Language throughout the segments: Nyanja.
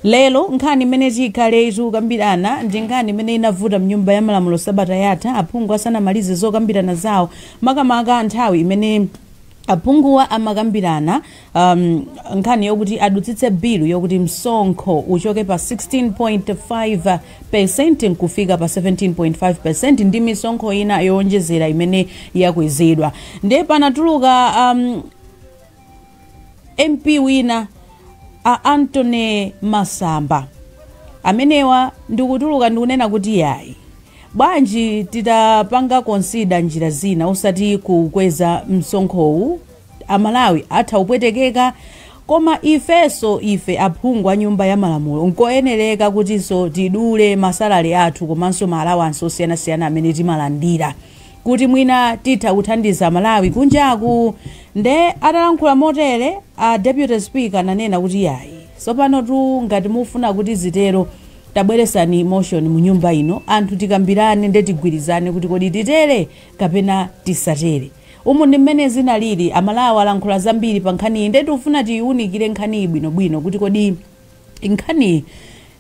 Lero nkhani imene tikhale tikukambirana ndi nkhani imene inavuta mnyumba ya malamulo sabata yatha aphungu asanamalize zokambirana zawo makamaka nthawi imene aphunguwa amakambirana um, nkhani yokuti adutsitse bilu yokuti msonkho uchoke pa 16.5 percent nkufika pa 17.5 percent ndi misonkho ina yowonjezera imene yakwezedwa ndiye panatuluka um, mp wina a Anthony masamba amenewa ndikutuluka ndikunena kuti yayi bwanji titapanga konsida njira zina osati kukweza msonkhowu amalawi atha kupwetekeka koma ifenso ife aphungu a nyumba ya malamulo nkoyenereka kutinso tidule masalale athu komanso maalawansi osiyanasiyana amene timalandira kuti mwina titha kuthandiza Amalawi kunjaku nde atalankhula motere a deputy speaker ananena kuti yayi sopanotu ngati mufuna kuti zitero tabweretsani motion mu nyumba ino anthu tikambirane nde tigwirizane kuti kodi titere kapena tisatere umu ndi mmene zinalili amalawi alankhula zambiri pa nkhaniyi nde tikufuna tiyiwunikire nkhaniyi bwinobwino kuti kodi Nkhaniyi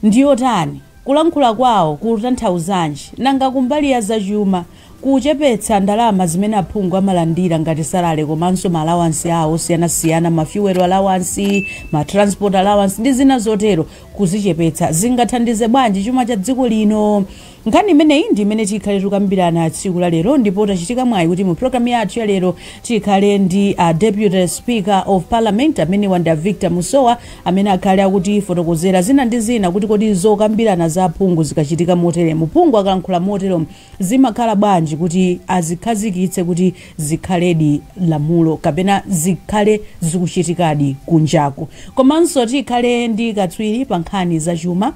ndi yotani? Kulankhula kwawo kukutanthauzanji? Nanga kumbali ya zachuma, kuchepetsa ndalama zimene aphungu amalandira ngati salale komanso ma alawansi awo osiyanasiyana, ma fuel alawansi, ma transport alawansi ndi zina zotero, kuzichepetsa zingathandize bwanji chuma cha dziko lino? Nkhani imeneyi ndi imene tikhale tikukambirana tsiku la lero ndipo tachitika mwayi kuti mu program yathu ya lero tikhale ndi a Deputy Speaker of Parliament amenewa ndi a Victor Musowa amene akhale akutifotokozera zina ndi zina kuti kodi zokambirana za aphungu zikachitika moteremu, phungu akalankhula motero zimakhala bwanji kuti azikhazikitse kuti zikhaledi lamulo kapena zikhale zikuchitikadi kunjaku. Komanso tikhale ndi katswiri pa nkhani za chuma.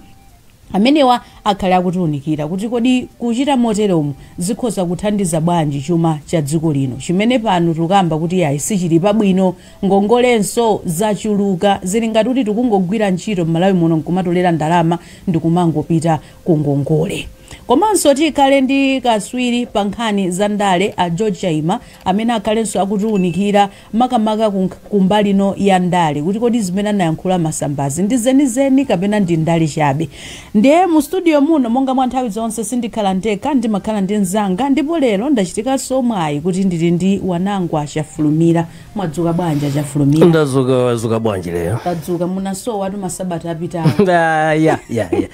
Amenewa akhale akutiunikira kuti kodi kuchita moteromu zikhoza kuthandiza bwanji chuma cha dziko lino chimene pano tikukamba kuti yayi sichili pabwino, ngongolenso zachuluka, zili ngati kuti tikungogwira ntchito m'Malawi muno nkumatolera ndalama ndikumangopita ku ngongole. Komanso tikhale ndi katswiri pa nkhani za ndale a George Chaima amene akhalenso akutiunikira makamaka kumbali ino ya ndale kuti kodi zimene anayankhula a Masambazi ndi zenizeni kapena ndi ndale chabe ndiye mu studio muno monga mwa nthawi zonse sindikhala ndekha ndimakhala ndi mzanga ndipo lero ndachitikanso mwayi kuti ndili ndi wanangwa chafulumira mwadzuka bwanji a Chafulumira ndadzuka wadzuka bwanji lero tadzuka munasowatu masabata apitawo Ah, ya ya ya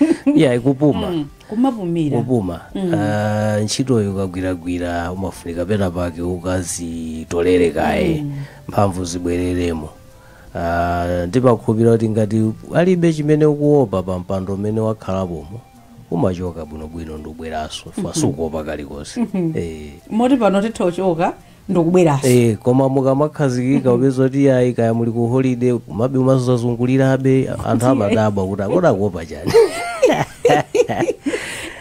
ya kupuma kumapumira kupuma Mm. Ah, ntchitoyo ukagwiragwira umafunika pena pake ukazitolere kaye Mm. mphamvu zibwereremo Ah, ndimakhulupirira kuti ngati palibe chimene ukuopa pa mpando umene wakhalapomo umachoka bwinobwino ndikubweranso Mhm. chifukwa sukuopa kalikonse Mhm. Eh. moti pano titha kuchoka ndikubweranso Eh, koma mukamakhazikika mupeza kuti yayi kaya muli ku holiday kumabe umazazungulirabe anthu amadabwa kuti a kodi akuopa chani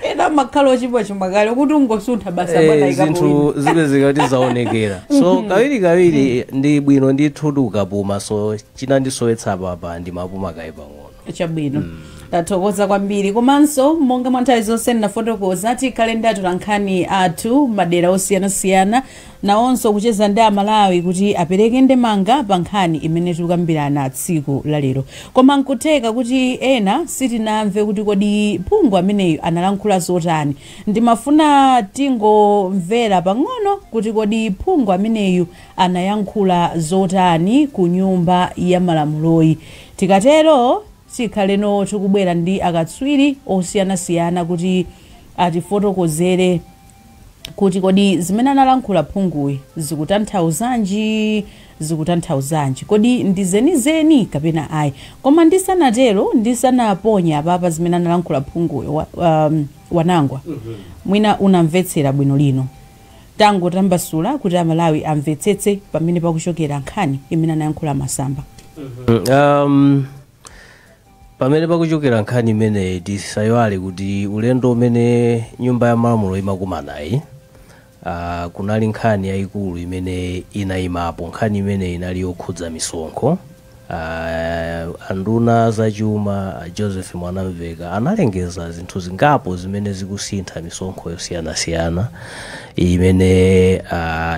ena amakhala ochibwa chuma kale kuti ungosuntha basa Eh, bwana ikapowina zinthu zipezeka kuti zaonekera so kawiri kawiri ndi bwino ndithu tikapuma so china ndisowetsa apapa ndimapuma kaye pang'ono chabwino tathokoza kwambiri komanso monga mwa nthawi zonse ndinafotokoza tikhale ndi atolankhani athu madera osiyanasiyana nawonso kucheza ndi amalawi kuti apereke ndemanga pa nkhani imene tikukambirana tsiku la lero koma nkutheka kuti ena sitinamve kuti kodi phungu ameneyu analankhula zotani ndimafuna tingomvera pang'ono kuti kodi phungu ameneyu anayankhula zotani ku nyumba ya malamuloyi Tikatero tikhale no tikubwera ndi akatswiri osiyanasiyana kuti atifotokozere kuti kodi zimene analankhula phunguyi zikutanthauzanji, zikutanthauzanji, kodi ndi zenizeni kapena ayi. Koma ndisanatero, ndisanaponye apapa zimene analankhula phunguyi, wa, um, Wanangwa, mwina unamvetsera bwino lino. tangotambasula kuti a Malawi amvetsetse pamene pakuchokera nkhani imene anayankhula Masamba. Um, pamene pakuchokera nkhani imeneyi tisayiwale kuti ulendo umene nyumba ya malamulo imakumanayi uh, kunali nkhani yayikulu imene inayimapo nkhani imene inali yokhudza misonkho A nduna a zachuma, a Joseph Mwanamveka, analengeza zinthu zingapo zimene zikusintha misonkho yosiyanasiyana imene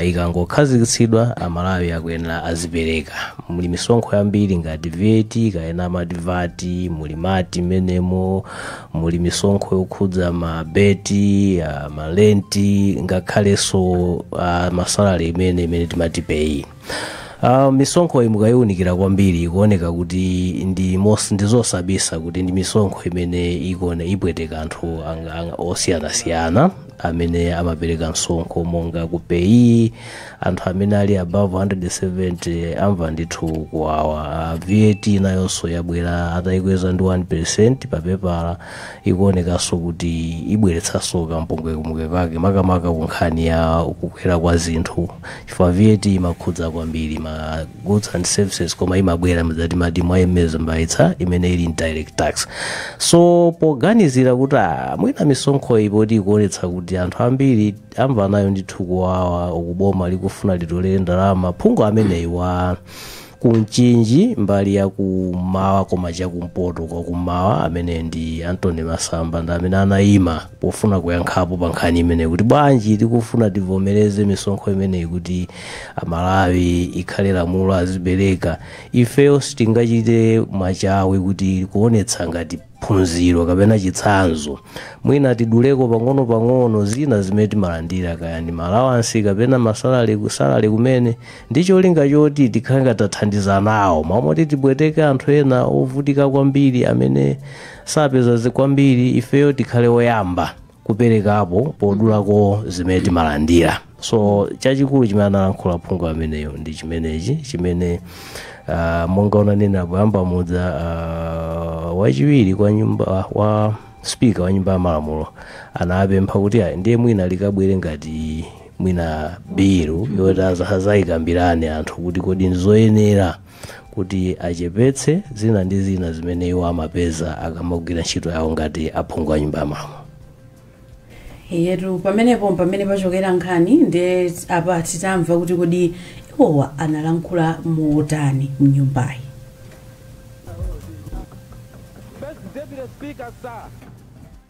ikangokhazikitsidwa Amalawi akuyenera azipereka. Muli misonkho yambiri ngati VAT kapena amati vat, muli MAT m'menemo, muli misonkho yokhudza mabeti, malenti ngakhalenso masalale imene timati peyi. Uh, misonkho iyi mukayiwunikira kwambiri ikuoneka kuti ndi mos- ndizosabisa kuti ndi misonkho imene ikone ipweteka anthu ang- ang- osiyanasiyana amene amapereka msonkho monga ku peyi anthu amene ali above 170 amva ndithu kuwawa uh, vat nayonso yabwera atayikweza ndi 1 percent papepala ikuonekanso kuti ibweretsanso kampungwepungwe kake makamaka ku nkhani ya kukwera kwa zinthu chifukwa vat imakhudza kwambiri ma goods and services koma imabwera mzati mati mwayemeza mbayitsa imene ili indirect tax so poganizira kuti ah, mwina misonkho iyi poti ikuonetsa kuti anthu ambiri amva nayo ndithu kuwawa uku boma likufuna litolere ndalama phungu ameneyi wa ku mchinji mbali ya kummawa koma chakumpoto kwa kummawa amene ndi anthony masamba ndi amene anayima pofuna kuyankhapo pa nkhani imeneyi kuti bwanji tikufuna tivomereze misonkho imeneyi kuti amalawi ikhale lamulo azipereka ifeyo sitingachite machawi kuti kuonetsa ngati phunziro kapena chitsanzo mwina tiduleko pang'ono-pang'ono zina zimene timalandira kaya ndi malawansi kapena masalale kusalale kumene ndi cholinga choti tikhale ngati tathandiza nawo mmalo moti tibweteke anthu ena ovutika kwambiri amene sapeza zi- kwambiri ifeyo tikhale oyamba kuperekapo podulako zimene timalandira so chachikulu chimene analankhula phungu ameneyo ndi chimenechi chimene uh, monga unanena poyamba muja uh, wachiwiri kwa nyumba uh, wa spika wa nyumba ya malamulo anapempha kuti ayi ndiye mwina likabwere ngati mwina bilu yoti aza- azayikambirane anthu kuti kodi ndizoyenera kuti achepetse zina ndi zina zimene iwo amapeza akamagwira ntchito yawo ngati aphungu a nyumba ya malamulo ndiyetu pamenepo pamene pachokera nkhani nde apa titamva kuti kodi iwowa analankhula motani mnyumbayi First Deputy Speaker, sir.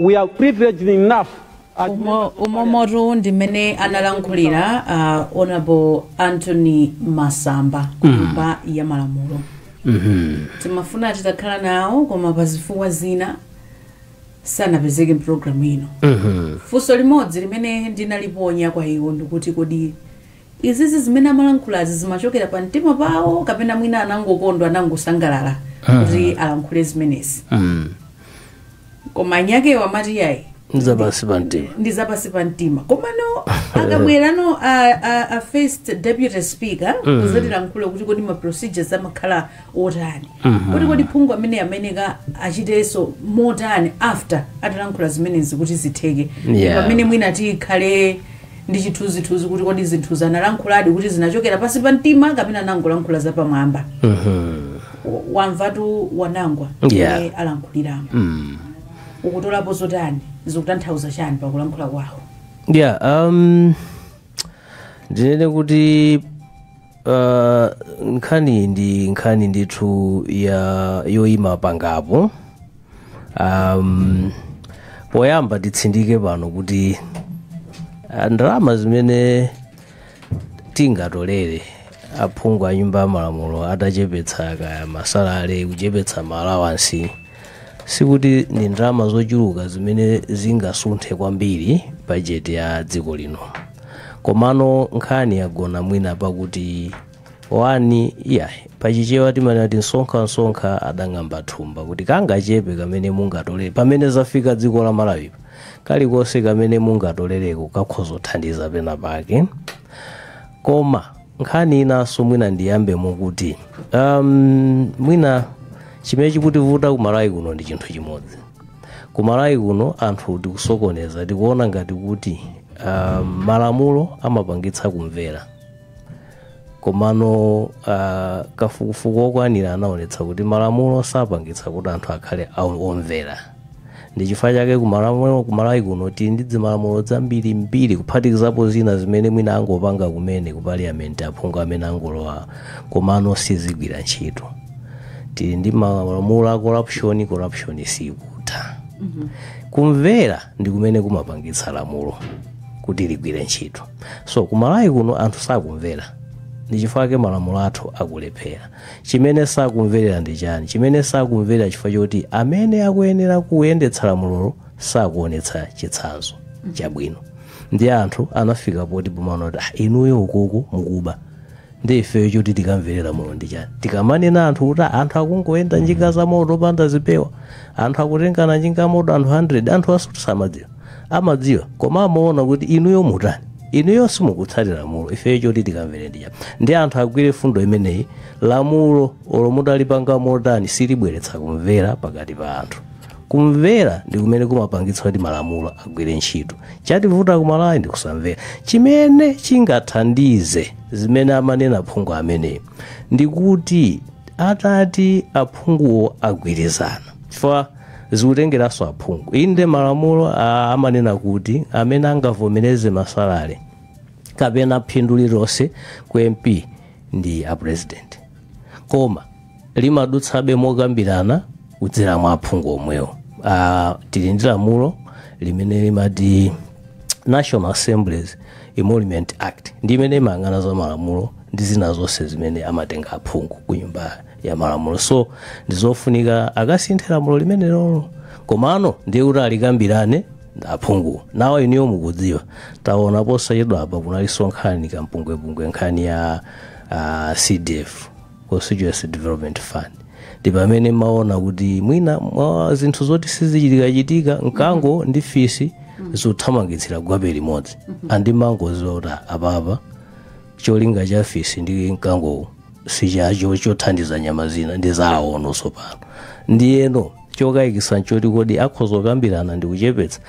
We are privileged enough as umo umomotu ndi mmene analankhulira uh, honorable anthony masamba kunyumba ya malamulo timafuna titakhala nawo koma pa zifukwa zina sanapezeke mpulogalamu ino funso limodzi limene ndinaliponya kwa iwo ndikuti kodi izizi zimene amalankhulazi zimachokera pa mtima pawo kapena mwina anangokondwa anangosangalala kuti alankhule zimenezi koma eni akewo amati yayi nzapansi pa mtima ndi zapansi pa mtima komano akabwerano a, a, a first deputy speaker kuzatilankhula kuti kodi ma procedures amakhala otani kuti kodi phungu amene amayeneka achitenso motani after atalankhula zimenezi kuti zitheke Yeah. pamene mwina tikhale ndi chithunzithunzi kuti kodi zinthuzi analankhuladi kuti zinachokera pansi pa mtima kapena anangolankhula zapamwamba Wa- wamvatu wanangwa Yeah. mmene alankhuliramo ukutolapo zotani zikutanthauza chani pakulankhula kwawo yeah um ndinene kuti Uh, nkhani ndi nkhani ndithu ya yoyima pangapo um, poyamba titsindike pano kuti ah, ndalama zimene tingatolere aphungu a nyumba ya malamulo atachepetsa kaya masalale kaya kuchepetsa maalawansi Sikuti ndi ndalama zochuluka zimene zingasunthe kwambiri bajeti ya dziko lino. Komano nkhani yagona mwina pakuti wani iyayi pachichewa timanena kuti msonkhamsonkha adang'amba thumba kuti kangachepe kamene mungatolere pamene zafika dziko la Malawipa kalikonse kamene mungatolereko kakhoza kuthandiza pena pake Koma nkhani inanso mwina ndiyambemo kuti um, mwina chimene chikutivuta ku Malawi kuno ndi chinthu chimodzi. Ku Malawi kuno anthu tikusokoneza, tikuona ngati kuti um, malamulo amapangitsa kumvera komano uh, kafukufuku okwanira anaonetsa kuti malamulo sapangitsa kuti anthu akhale omvera Ndi chifukwa chake ku Malawi, ku Malawi kuno tili ndi zimalamulo zambirimbiri kuphatikizapo zina zimene mwina angopanga kumene ku parliament aphungu amene angolowa komano sizigwira ntchito. Tili ndi malamulo a corruption, corruption sikutha. Kumvera ndi kumene kumapangitsa lamulo kuti ligwire ntchito. So ku Malawi kuno anthu sakumvera. Ndi chifukwa chake malamulo athu akulephera. Chimene sakumverera ndi chani? Chimene sakumverera chifukwa choti amene akuyenera kuyendetsa lamulolo sakuonetsa chitsanzo chabwino. Ndi anthu anafika poti pomaona kuti ah, inuyo ukuku mukuba ndi ifeyo choti tikamverera lamulo ndi chani? Tikamanena anthu kuti "Ah, anthu akungoyenda njinga za moto opanda zipewa, anthu akutengana njinga moto anthu 100, anthuwa sikuti samadziwa, amadziwa koma amaona kuti inuyo mutani? inuyo simukutsatira lamulo ifeyo choti tikamvere ndi chani ndi anthu agwire fundo imeneyi lamulo olo mutalipanga motani silibweretsa kumvera pakati pa anthu kumvera ndi kumene kumapangitsa kuti malamulo agwire ntchito chativuta ku Malawi ndi kusamvera chimene chingathandize zimene amanena aphungu ameneyi ndi kuti atati aphunguwo agwirizana chifukwa zikutengeranso aphungu inde malamulo ah, amanena kuti amene angavomereze masalale kapena phindu lililonse ku MP ndi a president koma limadutsabe mokambirana kudzera mwa aphungu omwewo ah, tili ndi lamulo limene limati National Assembly's Emolument Act ndi imene imayang'ana za malamulo ndi zina zonse zimene amatenga aphungu ku nyumba ya malamulo so ndizofunika akasinthe lamulo limenelolo komano ndiye kuti alikambirane ndi aphungu nawo inuyo mukudziwa taona posachedwa apa kunalinso nkhani kampungwepungwe nkhani ya uh, cdf constituency development fund ndi pamene maona kuti mwina mwa zinthu zoti sizichitikachitika mkango ndi fisi zikuthamangitsira gwape limodzi ndimangodziwa kuti apapa cholinga cha fisi ndi mkangowo sichacho chothandiza nyama zina ndi zawo tsopano ndiyeno chokayikitsa nchoti kodi akhoza kukambirana ndi kuchepetsa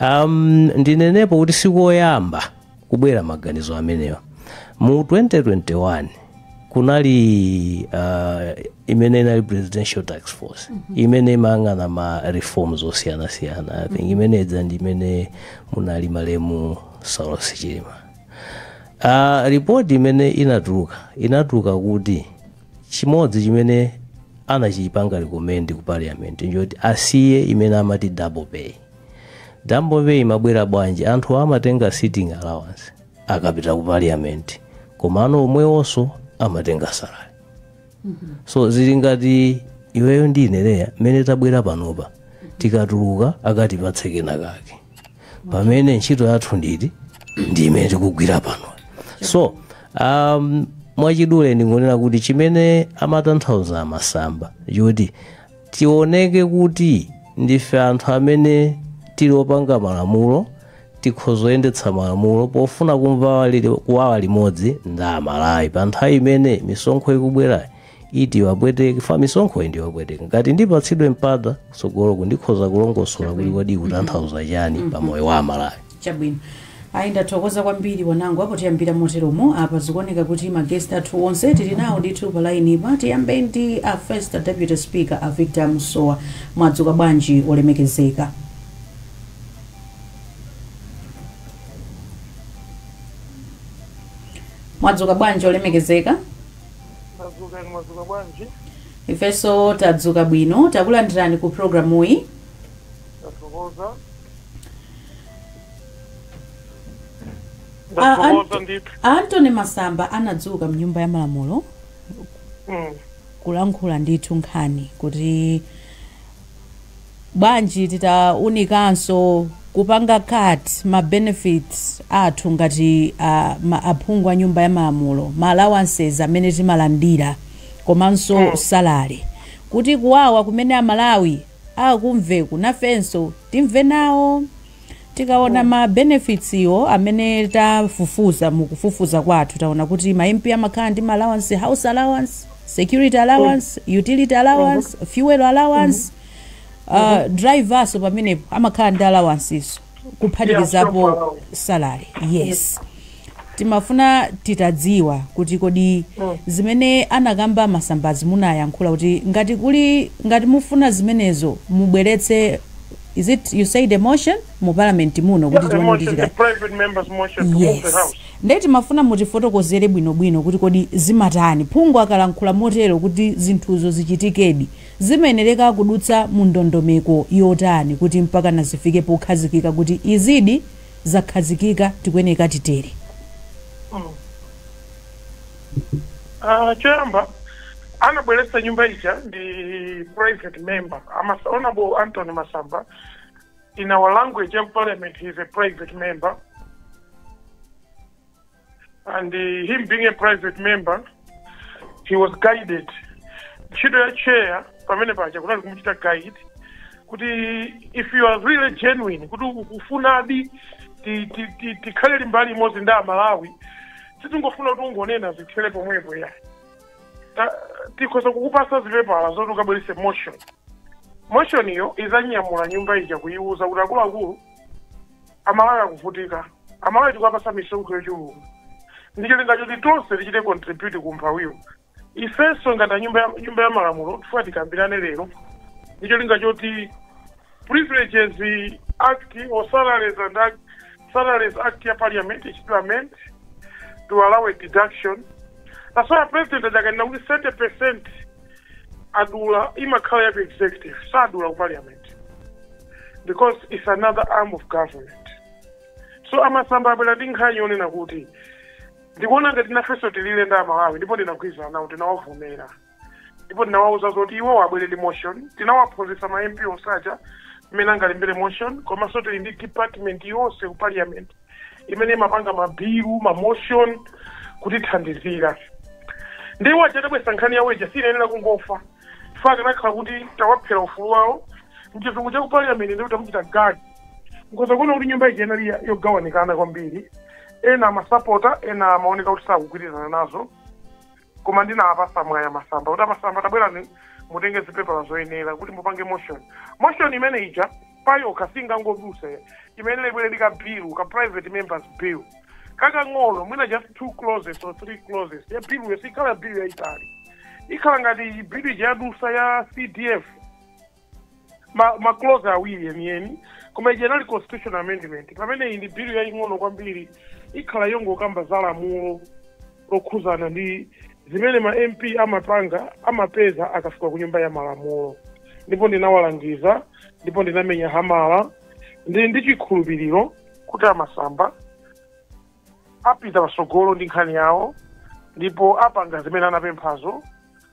um, ndinenepo kuti sikoyamba kubwera maganizo amenewa mu 2021 kunali uh, imene inali presidential task force imene imayang'ana ma reforms osiyanasiyana i think imene idza ndi imene munali malemu saulos chilima Uh, ripoti imene inatuluka inatuluka kuti chimodzi chimene anachipanga recommend ku parliament nchoti asiye imene amati double pay double pay imabwera bwanji anthu amatenga sitting allowance akapita ku parliament komano omwewonso amatenga salary so zili ngati iweyo ndi ine Leya mmene tabwera panopa tikatuluka akatipatse kena kake pamene ntchito yathu ndi ndi imene tikugwira pano so um, mwachidule ndingonena kuti chimene amatanthauza a masamba nchoti tioneke kuti ndife anthu amene tili opanga malamulo tikhoza kuyendetsa malamulo pofuna kumva wali- kuwawa limodzi ndi amalawi pa nthawi imene misonkho ikubwerayi iti wapweteka ifa misonkho ndi yopweteka ngati ndipatsidwe mpata tsogoloku ndikhoza kulongosola kuti kodi ikutanthauza chani pa moyo wa amalawi chabwino ayi ndathokoza kwambiri wanangwa apo tiyambira moteromo apa zikuoneka kuti magesti athu onse tili nawo ndithu pa laini pa tiyambe ndi a first deputy speaker a victor musowa mwadzuka bwanji olemekezeka mwadzuka bwanji olemekezeka Mwadzuka inu mwadzuka bwanji? ifenso tadzuka bwino takulandirani ku programuyi Ndathokoza. Ah, ah. Ndathokoza ndithu. antony masamba anadzuka mnyumba ya malamulo Mm. kulankhula ndithu nkhani kuti bwanji titaunikanso kupanga cut ma benefits athu ngati a ma aphungu a nyumba ya malamulo ma allowances amene timalandira komanso Mm. salary kuti kuwawa kumene amalawi akumvaku nafenso timve nawo Tikaona ma benefits iwo amene tafufuza mu kufufuza kwathu taona kuti ma MP amakhala ndi ma allowance, house allowance, security allowance, utility allowance, fuel allowance, uh, driver so pamenepo amakhala ndi allowances kuphatikizapo salary. Yes. Timafuna titadziwa kuti kodi zimene anakamba a Masambazi munayankhula kuti ngati kuli ngati mufuna zimenezo mubweretse is it you said a motion mu parliament muno kuti Yes, a tione kuti motion, achite private member's motion to move the yes house. ndiye timafuna mutifotokozere bwinobwino kuti kodi zimatani phungu akalankhula motero kuti zinthuzo zichitikedi zimayenereka kudutsa mu ndondomeko yotani kuti mpakana zifike pokhazikika kuti izidi zakhazikika tikuyeneleka titere. Aaa choyamba anabweretsa nyumba ija ndi private member honorable Anthony Masamba in our language ya parliament he is a private member and uh, him being a private member he was guided ntchito ya chair pamene paja kunali kumuchita guide kuti if you are really genuine kuti ukufunadi ti- ti- ti- tikhale limbali imodzi ndi amalawi sitingofuna kuti ungonena zithele pomwepo ayi Ta- tikhoza kukupasa zipepala zoti ukabwerese motion motion iyo izanyamula nyumba ija kuyiwuza kuti akuluakulu amalawi akuvutika amalawi tikuwapasa misonkho yochuluka ndi cholinga choti tonse tichite contribute ku umphawiwo ifenso ngati a nyumba ya- nyumba ya malamulo tifuna tikambirane lero ndi cholinga choti privileges act or salaries and act, salaries act ya parliament ichite amendment to allow a deduction that's why president aja akanena kuti 30 percent adula imakhala ya ku executive sadula ku parliament because it's another arm of government so a Masamba abwera ndi nkhani yonena kuti ndikuona ngati nafenso tilile ndi amalawi ndipo ndinagwirizana nawo tinawavomera ndipo tinawauza zoti iwo abwere ndi motion tinawaphunzitsa ma mp onse aja mmene angalembere motion komanso tili ndi department yonse ku parliament imene imapanga mabilu ma motion kutithandizira nde iwo aja atabweresa nkhani yawo ija siinayenera kungofa chifukwa akanakhala kuti tawaphera ufulu wawo mchizungu cha ku parliament ndi kuti amuchita gag nkoza kuona kuti nyumba ija inali ya- yogawanikana kwambiri ena amasapota ena amaoneka kuti sakugwirizana nazo koma ndinawapasa mwayi a Masamba kuti a Masamba tabwerani mutenge zipepala zoyenera kuti mupange motion motion imene ija payokha singangodusa iyenele ibwere ndi ka bill ka private members bill kakang'ono mwina just two clauses or three clauses ya bill sikhala bill yaitali ikhala ngati bill ija yadusa ya cdf ma, ma clause awiri yeniyeni koma ija inali constitutional amendment pamene iyi ndi bill yaying'ono kwambiri ikhala yongokamba za lamulo lokhuzana ndi zimene ma mp amapanga amapeza akafika ku nyumba ya malamulo ndipo ndinawalangiza ndipo ndinamenya hamala ndi ndi chikhulupiriro kuti a Masamba apita patsogolo ndi nkhani yawo ndipo apanga zimene anapemphazo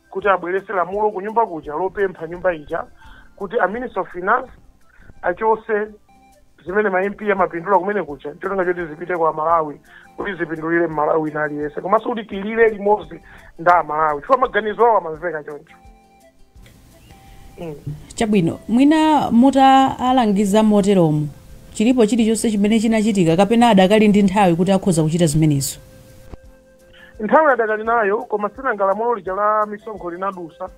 kuti abweretse lamulo kunyumba kuja lopempha nyumba ija kuti a minister of finance achose zimene ma mp amapindula kumene kuja cholinga choti zipite kwa amalawi kuti zipindulire mmalawi wina aliyense komanso kuti tilire limodzi ndi amalawi chifukwa maganizo awo amamveka choncho chabwino mwina mutaalangiza moteromo chilipo chilichonse chimene chinachitika kapena adakali ndi nthawi kuti akhoza kuchita zimenezo nthawi adakali nayo koma sinanga lamulo lija la misonkho linadusa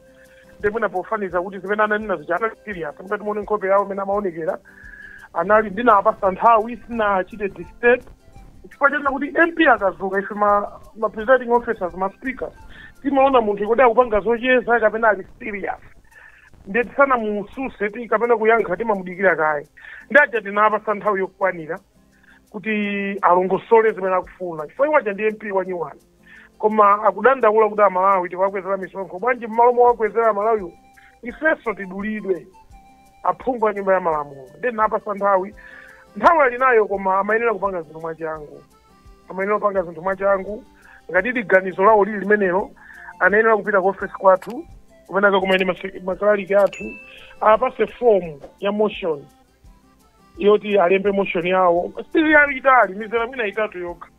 ndi mwina pofaniza kuti zimene ananena zija anali serious ngati mumaona nkhope yawo mmene amaonekera anali ndinawapasa nthawi sindinachite disturb chifukwa chonena kuti mp akazuka ife ma, ma presiding officers ma speakers timaona munthu kuti akupanga zocheza kapena ali serious ndiye tisanamususe ti kapena kuyankha timamudikira kaye ndi aja tinaapasa nthawi yokwanira kuti alongosole zimene akufuna chifukwa iwo aja ndi mp wanyuwani koma akudandaula kuti amalawi tikuwakwezera misonkho bwanji mmalo mowakwezera amalawiwo ifenso tidulidwe aphungu a nyumba ya malamulo ndinaapasa nthawi nthawi ali nayo koma amayenera kupanga zinthu mwachangu amayenera kupanga zinthu mwachangu ngati ili ganizo lawo lili limenelo anayenera kupita ku ofesi kwathu kumene akakumene ma kalaliki athu aapase fomu ya motion yoti alembe motion yawo si yayitali mizera mwina itatu yokha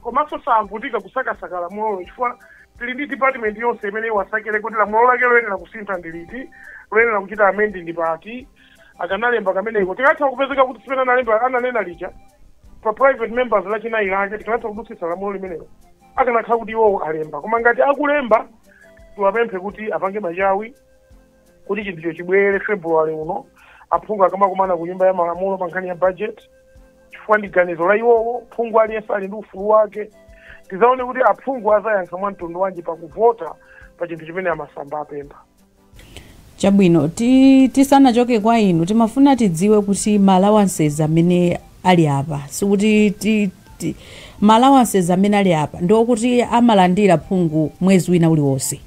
komanso saavutika kusakasaka lamulolo chifukwa tili ndi department yonse imene iwasakire kuti lamulo lake loyenera kusintha ndi liti loyenera kuchita amend ndi pati akanalemba kameneko tikatha kupezeka kuti tsiku limene analemba ananena lija pa private members lachinayi lake tikanatha kudutsitsa lamulo limenelo akanakhala kuti iwowo alemba koma ngati akulemba tiwapemphe kuti apange machawi kuti chinthucho chibwere february uno aphungu akamakumana ku nyumba ya malamulo pa nkhani ya budget chifukwa ndi ganizo la iwowo phungu aliyense ali ndi ufulu wake tizaone kuti aphungu azayankha mwa mtundu wanji pakuvota pa chinthu chimene a Masamba apempha chabwino ti, tisanachoke kwa inu timafuna tidziwe kuti maalawanses amene ali apa sikuti ti, ti, maalawanses amene ali apa ndiokuti amalandira phungu mwezi wina uliwonse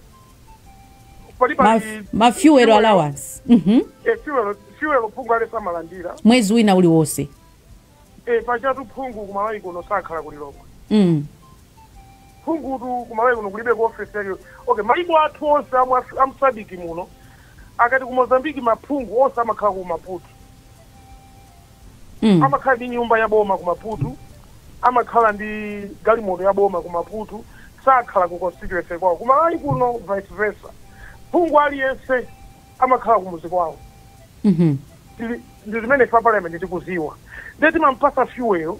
palibe Ma, ma fuel allowance mhm e fuel fuel phungu aliyense amalandira mwezi wina uliwonse e pachatu phungu kumalawi kuno sakhala kulilongwe mm. phungutu kumalawi kuno kulibe ku office yake okay maiko athu onse amu Af- amu sadc muno akati ku mozambiki maphungu onse amakhala ku maputo Mm. amakhala ndi nyumba ya boma ku maputo amakhala ndi galimoto ya boma ku maputo sakhala ku constituency kwawo ku malawi kuno vice versa phungu aliyense amakhala ku muzi kwawo Mhm. Tili- ndi zimene ife parliament tikuziwa ndiye timampasa fuel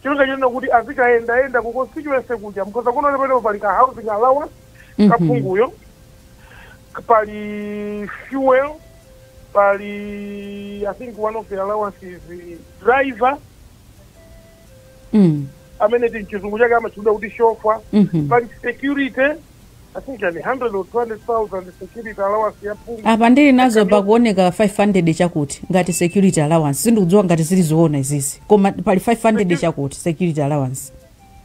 cholinga chonena kuti azikayendayenda ku constituency kuja mkhoza kuona pamenepo pali ka housing allowance Mhm. kaphunguyo pali fuel pali i think one of the allowances driver mm. amene mchizungu chake amatchedwa kuti shofa mhm. pali security i think yani 100 or 200000 security allowance ya phungu apa ndili nazo pakuoneka 500 chakuti ngati security allowance sindikudziwa ngati zili zoona izizi koma pali 500 chakuti security allowance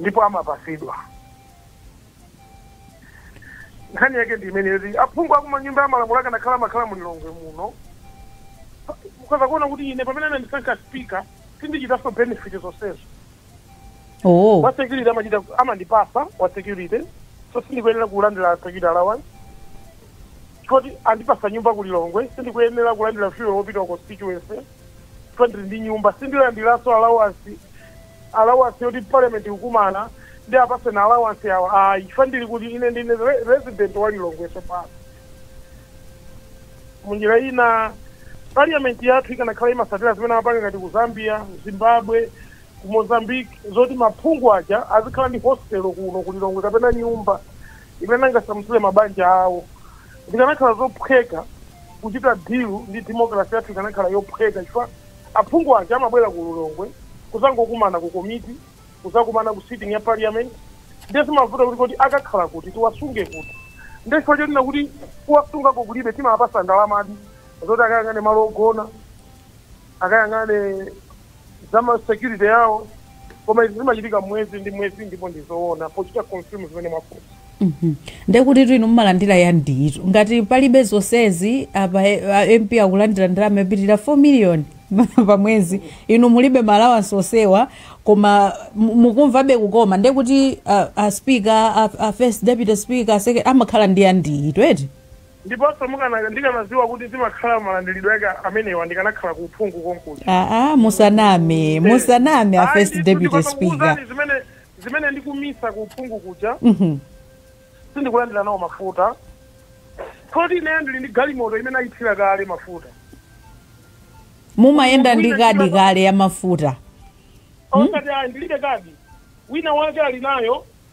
ndipo amapasidwa nkhani yake ndi imene yoti aphungu akunyumba ya malamulo akanakhala amakhala mu lilongwe muno mukhoza kuona kuti ine pamene anandisankha speaker sindichitanso benefit zonsezo oh wa security amachita amandipasa wa security so sindikuyenera kulandira security allowance poti andipasa nyumba ku lilongwe sindikuyenera kulandira fuel wopita ku constituency chifukwa ndili ndi nyumba sindilandiranso allowance allowance yoti parliament ikukumana ndipasidwe allowance ayi chifukwa ndili kuti ine ndine re- resident wa lilongwe tsopano munjira ina parliament yathu ikanakhala imasatira zimene amapanga ngati ku zambia zimbabwe ku mozambique zoti maphungu aja azikhala ndi hostel kuno ku lilongwe kapena nyumba imene angasamutsire mabanja awo zikanakhala zophweka kuchita deal ndi democracy yathu ikanakhala yophweka chifukwa aphungu aja amabwera ku lilongwe kuzangokumana ku komiti kuzakumana ku sitting ya parliament ndiye zimavuta kuti kodi akakhala kuti tiwasunge kuti ndiye chifukwa chonena kuti kuwasungako kulibe timawapasa ndalamadi zoti akayang'ane malo ogona akayang'ane za ma security yawo koma izi zimachitika mwezi ndi mwezi ndipo ndi zoona pochita confirm zimene mwafunsa Mhm. ndekuti tu inu mumalandira yambiritu ngati palibe zonsezi apa eh, a mp akulandira ndalama yopitirira 4 million pa mwezi inu mulibe malawansi onsewa koma mu- mukumvabe kukoma ndekuti a, a speaker a, a first deputy speaker a second amakhala ndi yambiritu eti Ndiponso ndikanaziwa kuti zimakhala malandilidwe ake amenewa ndikanakhala ku uphungu konkuja. Aaa musaname Eeh musaname a first deputy speaker. ayi ndithu ndikhoza kukuuzani zimene zimene ndikumisa ku uphungu kuja Mhm. sindikulandira nawo mafuta poti ineyo ndili ndi galimoto imene ayithira kale mafuta Mumayenda ndi kadi kale ya mafuta. osati ayi ndilibe kadi wina wake ali nayo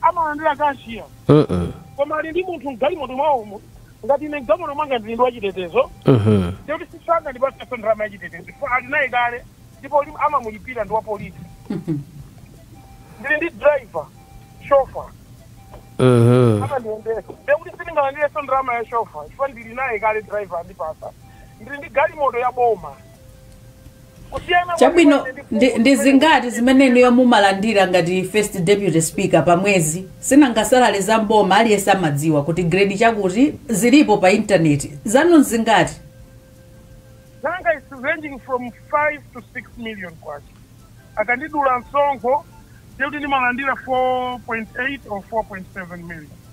amalandira kashiya Uh-uh. koma ali ndi munthu mgalimoto mwawomo ngati ine mgalimoto mwanga ndili ndi wachitetezo Uh-huh. ndikuti sangandipatseso ndalama yachitetezo chifukwa ali naye kale ndipo uli- amamulipira ndi wapolisi ndili ndi driver shofa Uh-huh. amandiyendesa ndikuti sindingalandireso ndalama ya shofa chifukwa ndili naye kale driver andipasa ndili ndi galimoto ya boma kusiyana chabwino kwake ndi- ndi, ndi zingati zimene inuyo mumalandira ngati first deputy speaker pa mwezi si nanga salale za mboma aliyense amadziwa kuti grade chakuti zilipo pa intaneti zanu zingati zanga is ranging from 5 to 6 million kwacha akandidula msonkho ndikuti ndimalandira 4.8 or 4.7 million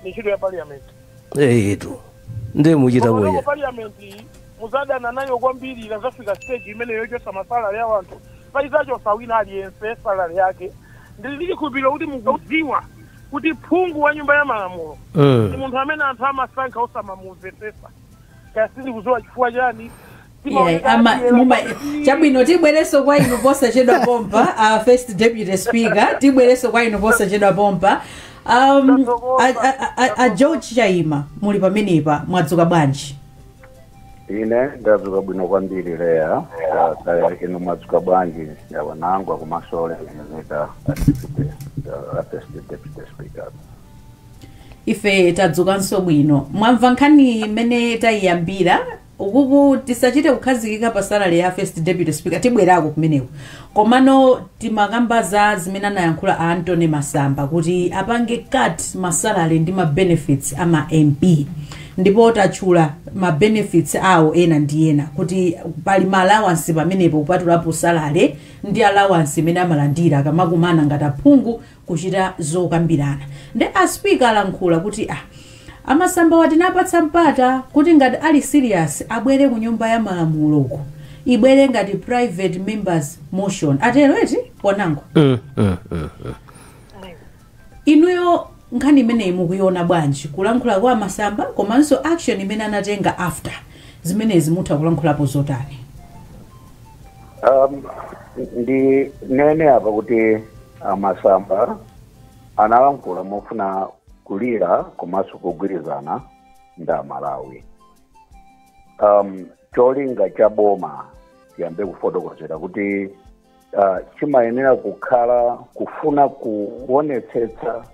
ndi ntchito ya parliament eyetu ndiye muchita bwino Komano parliament iyi muzadana nayo kwambiri ikazafika stage imeneyo yochosa masalale ya wanthu poti izachosa wina aliyense salale yake ndili ndi chikhulupiriro kuti mukudziwa kuti phungu wa nyumba ya malamulo ndi Mm. munthu amene anthu amasankha osamamumvetsesa kaya sindikudziwa chifukwa chani Iyayi, ama- muma- chabwino tibwereso kwa inu posachedwa pompa a first deputy speaker tibwereso kwa inu posachedwa pompa um, a, a, a- a, a George Chaima muli pamenepa mwadzuka bwanji ine ndadzuka bwino kwambiri Leah Ah, kaya inu mwadzuka bwanji yawanangwa komanso olemekezeka first deputy speaker ife tadzukanso bwino mwamva nkhani imene tayiyambira Ukuku tisachite kukhazikika pa salary ya first deputy speaker tibwerako kumeneko komano timakamba za zimene anayankhula a Anthony Masamba kuti apange cut ma salary ndi ma benefits a ma MP ndipo tatchula ma benefits awo ena ndi ena kuti pali ma allowance pamenepo kupatulapo salary ndi allowance imene amalandira akamakumana ngati aphungu kuchita zokambirana nde a speaker alankhula kuti ah a Masambawa tinawapatsa mpata kuti ngati ali serious abwere ku nyumba ya malamuloko ibwere ngati private members motion atero eti komano Mm, mm, mm, mm. inuyo nkhani imeneyi mukuiona bwanji kulankhula kwa a Masamba komanso action imene anatenga after zimenezi mutha kulankhulapo zotani um, ndinene apa kuti A Masamba analankhula mofuna kulira komanso kugwirizana ndi Amalawi. Um, cholinga cha boma tiyambe kufotokozera kuti uh, chimayenera kukhala kufuna kuonetsetsa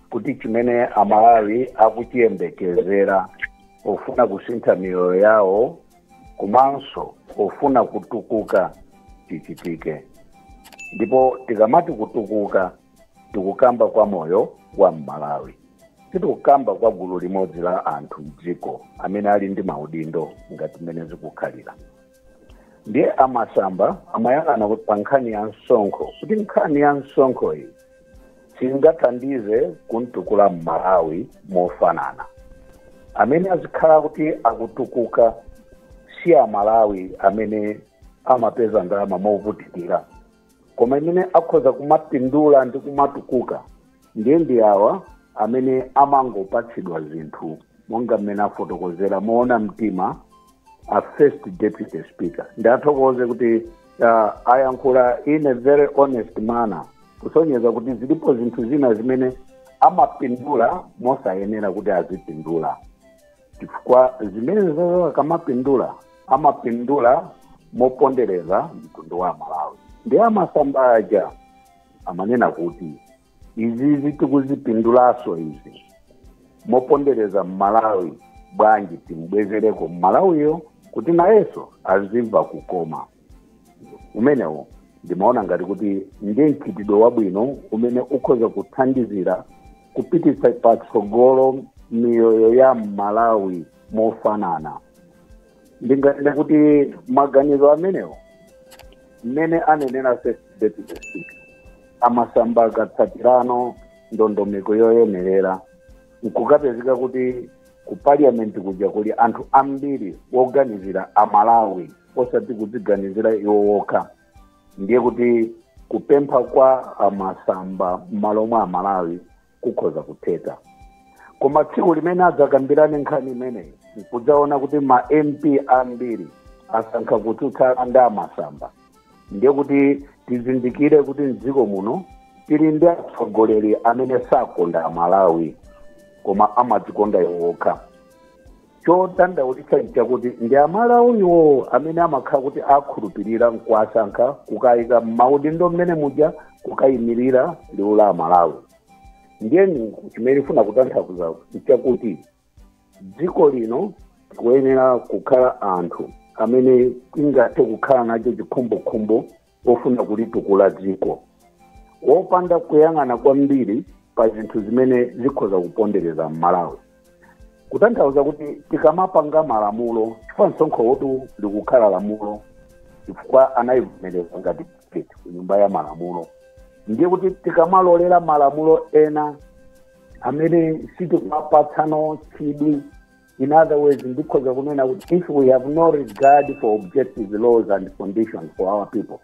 kuti chimene Amalawi akuchiyembekezera pofuna kusintha miyoyo yawo komanso pofuna kutukuka chichitike ndipo tikamati kutukuka tikukamba kwa moyo wa mmalawi sitikukamba kwa gulu limodzi la anthu mdziko amene ali ndi maudindo ngati mmene zikukhalira ndiye a Masamba amayang'ana kuti pa nkhani ya msonkho kuti nkhani ya msonkho iyi singathandize kumtukula mmalawi mofanana amene azikhala kuti akutukuka si amalawi amene amapeza ndalama movutikira koma amene akhoza kumapindula ndi kumatukuka ndiye ndi awa amene amangopatsidwa zinthu monga mmene afotokozera moona mtima a first deputy speaker ndiwathokoze kuti uh, ayankhula in a very honest manner kusonyeza kuti zilipo zinthu zina zimene amapindula mosayenera kuti azipindula chifukwa zimenezozo akamapindula amapindula mopondereza mtundu wa malawi ndiye a Masamba aja amanena kuti izizi tikuzipindulaso izi mopondereza mmalawi bwanji timbwezereko mmalawiyo kuti nayeso azimva kukoma umenewo ndimaona ngati kuti ndi mchitidwe wabwino umene ukhoza kuthandizira kupititsa patsogolo miyoyo ya mmalawi mofanana ndinganene kuti maganizo amenewo mmene anenera first deputy speaker a Masamba akatsatira ndondomeko yoyenerera nkukapezeka kuti ku parliament kuja kuli anthu ambiri woganizira amalawi osati kudziganizira iwo wokha ndiye kuti kupempha kwa a Masamba m'malo mwa amalawi kukhoza kutheka koma tsiku limene adzakambirane nkhani imeneyi nkudzaona kuti ma mp ambiri asankha kutsutsana ndi a Masamba ndiye kuti tizindikire kuti mdziko muno tili ndi atsogoleri amene sakonda amalawi koma amadzikonda iwo okha chodandaulitsa nchakuti ndi amalawiwo amene amakhala kuti akhulupirira nkuwasankha kukayika mmaudindo mmene muja kukayimirira liwu la amalawi ndiyeni chimene ndifuna kutanthauza nchakuti dziko lino tikuyenera kukhala anthu amene tingathe kukhala nacho chikhumbokhumbo pofuna kulitukula dziko wopanda kuyang'ana kwambiri pa zinthu zimene zikhoza kupondereza mmalawi kutanthauza kuti tikamapanga malamulo chifukwa msonkho wotu likukhala lamulo chifukwa anayivomereza ngati budget ku nyumba ya malamulo ndiye kuti tikamalolera malamulo ena amene sitikumapatsano chidwi In other words, ndikhoza kunena kuti if we have no regard for objective laws and conditions for our people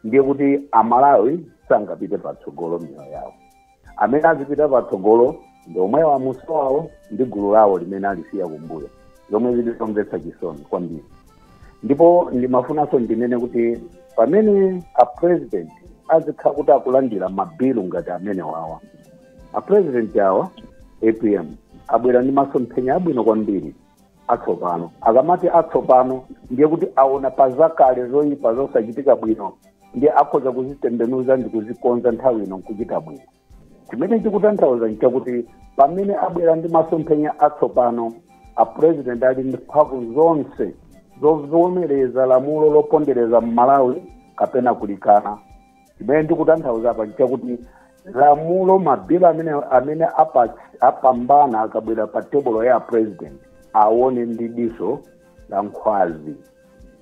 ndiye kuti amalawi sangapite patsogolo miyoyo yawo amene azipita patsogolo ndi omwewo amuso wawo ndi gulu lawo limene alisiya kumbuyo zomwe zili zomvetsa chisoni kwambiri ndipo ndimafunanso ndinene kuti pamene a president azikhala kuti akulandira mabilu ngati amenewawa a president awa apm abwera ndi masomphenya abwino kwambiri atsopano akamati atsopano ndiye kuti aona pa zakale zoyipa zosachitika bwino ndiye akhoza kuzitembenuza ndi kuzikonza nthawi ino nkuchita bwino chimene chikutanthauza nchakuti pamene abwera ndi masomphenya atsopano a president ali ndi mphamvu zonse zovomereza lamulo lopondereza mmalawi kapena kulikana chimene ndikutanthauza apa nchakuti lamulo mabilu amene amene apa- apambana akabwera pa tebulo ya president aone ndi diso la nkhwazi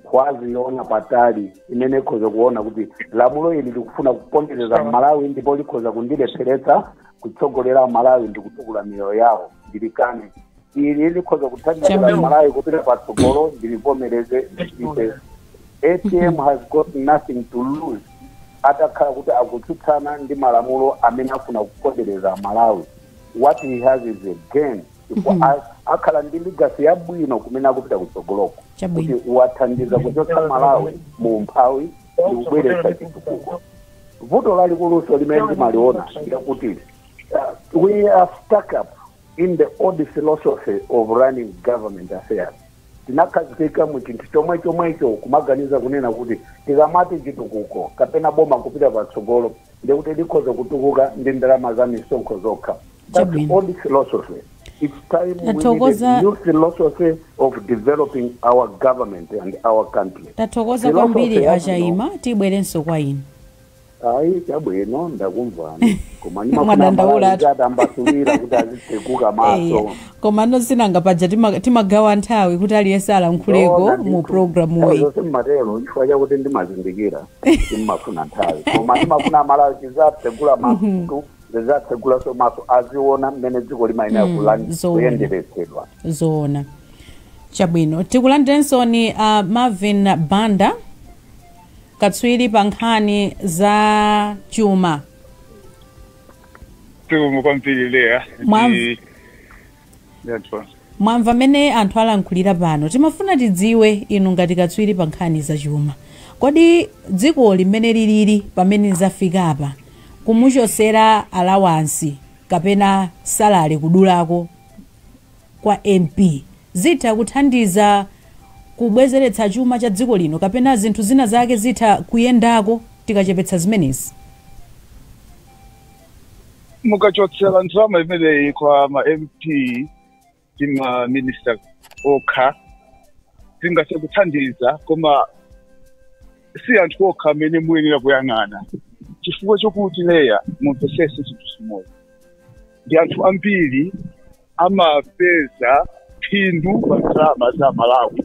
nkhwazi yoona patali imene ikhoza kuona kuti lamulo ili likufuna kupondereza mmalawi ndipo likhoza kundilepheretsa kutsogolera malawi ndi kutukula miyoyo yawo ndilikane ili likhoza kuthandizira Chairman. malawi kupita patsogolo ndilivomereze ndipite apm has got nothing to lose atakhala kuti akutsutsana ndi malamulo amene afuna kupondereza malawi what he has is a gain chifukwa a- akhala ndi legacy yabwino kumene akupita kutsogoloko kuti chabwino wathandiza kuchotsa malawi mu umphawi ndi kubweretsa chitukuko vuto lalikulunso limene timaliona ndi lakuti uh, we are stuck up in the old philosophy of running government affairs tinakhazikika mu chinthu chomwe chomwecho kumaganiza kunena kuti tikamati chitukuko kapena boma kupita patsogolo ndiye kuti likhoza kutukuka ndi ndalama za misonkho zokha That's Chabwino. old philosophy it's time we need Tathokoza- a new philosophy of developing our government and our country tathokoza Philosophy kwambiri yabwino. achaima tibwerenso kwa inu Ayi chabwino ndakumvani koma ndimafuna Mwadandaula malawi ati. zatambasulira kuti azitsekuka Eya. maso koma nosinanga paja tima- timagawa nthawi kuti aliyense alankhuleko Zoona ndithu. mu programu Nthawi uyi zonse mmatero chifukwa chakuti ndimazindikira ndimafuna nthawi koma ndimafuna malawi azitsegula maso ndizatsegulanso maso aziona mmene dziko limayenera Mm, kulandi- zoona. kuyenderetsedwa zoona chabwino tikulandirensoni uh, marvin banda katswiri pa nkhani za chuma Zikomo kwambiri Leah Mwam- ndi Yatwa. mwamva mmene anthu alankhulira pano timafuna tidziwe inu ngati katswiri pa nkhani za chuma kodi dziko limene lilili pamene zafikapa kumuchosera alawansi kapena salale kudulako kwa mp zitha kuthandiza kubwezeretsa chuma cha dziko lino kapena zinthu zina zake zitha kuyendako tikachepetsa zimenezi mukachotsera ndalama imeneyi kwa ma mp ndi ma minister okha zingathe kuthandiza koma si anthu okha amene muyenera kuyang'ana chifukwa chokuti leya mumvetsetse chinthu chimodzi ndi anthu ambiri amapeza phindu pa ndalama za malawi